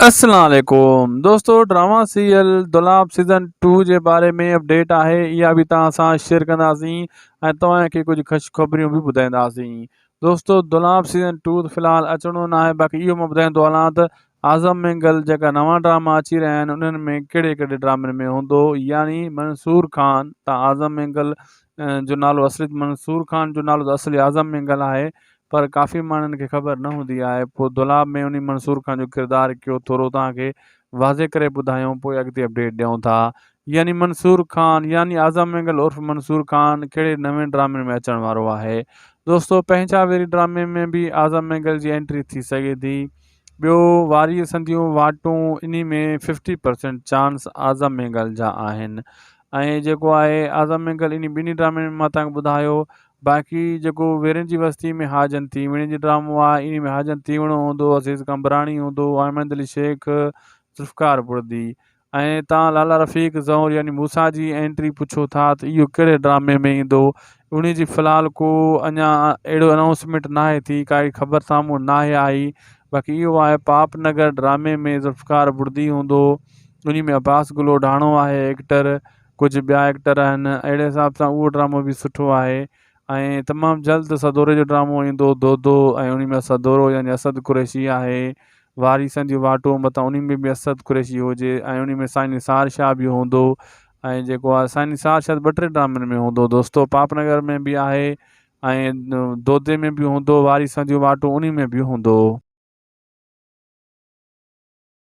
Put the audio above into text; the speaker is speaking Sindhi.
اسلام عليڪم دوستو drama serial Dolab season two جي باري ۾ اپڊيٽ آهي اها به توهان سان شيئر ڪنداسين ۽ توهان کي ڪجهه خش خبريون به ٻڌائينداسين دوستو دولاب سيزن ٽو ته فلحال اچڻو ناهي باقي اهو مان ٻڌائيندو هلان ته اعظم مينگل جيڪا نوان ڊراما اچي رهيا آهن انهن ۾ ڪهڙي ڪهڙي ڊرامن ۾ هوندو يعني منصور خان تان اعظم مينگل جو نالو اصلي منصور خان جو نالو ته اصلي اعظم مينگل آهي پر ڪافي ماڻهن کي خبر نه هوندي آهي پوء دولاب ۾ انهي منصور خان جو ڪردار ڪيو ٿورو توهان کي واضح ڪري ٻڌايون پوء اڳتي اپڊيٽ ڏيون ٿا. يعني منصور خان يعني اعظم مينگل عرف منصور خان ڪهڙي نوين ڊرامي ۾ اچڻ وارو آهي دوستو پنهنجا ويري ڊرامي ۾ به اعظم مينگل جي انٽري ٿي سگهي ٿي ٻيو واريء سنديون واٽون انهي ۾ fifty percent chance Azam Mengal جا آهن ۽ جيڪو آهي اعظم مينگل انهي ٻنهي ڊرامين ۾ مان توهان کي ٻڌايو باقي جيڪو ويرين جي وستي ۾ حاجن تيوڻي جي ڊرامو آهي انهي ۾ حاجن تيوڻو هوندو عزيز قمبراڻي هوندو احمد علي شيخ ذوالفقار بڙدي ۽ تان لالا رفيق زهور يعني موسيٰ جي انٽري پڇو ٿا ته اهو ڪهڙي ڊرامي ۾ ايندو انهي جي فلحال ڪو اڃا اهڙو انائونسمينٽ ناهي ٿي ڪا اهڙي خبر سامهون ناهي آئي باقي اهو آهي پاپ نگر ڊرامي ۾ ذوالفقار بڙدي هوندو انهي ۾ عباس گلوڊاڻو آهي ايڪٽر ڪجهه ٻيا ايڪٽر آهن اهڙي حساب سان اهو ڊرامو به سٺو آهي ۽ تمام جلد سدوري جو ڊرامو ايندو دودو ۽ ان ۾ سدورو يعني اسد قريشي آهي واريسن جي واٽون متان ان ۾ به اسد قريشي هجي ۽ ان ۾ سائين نثار شاهه به هوندو ۽ جيڪو آهي سائين نثار شاهه ٻه ٽي ڊرامن ۾ هوندو دوستو پاپ نگر ۾ به آهي ۽ دودي ۾ به هوندو واريسن جون واٽون ان ۾ به هوندو.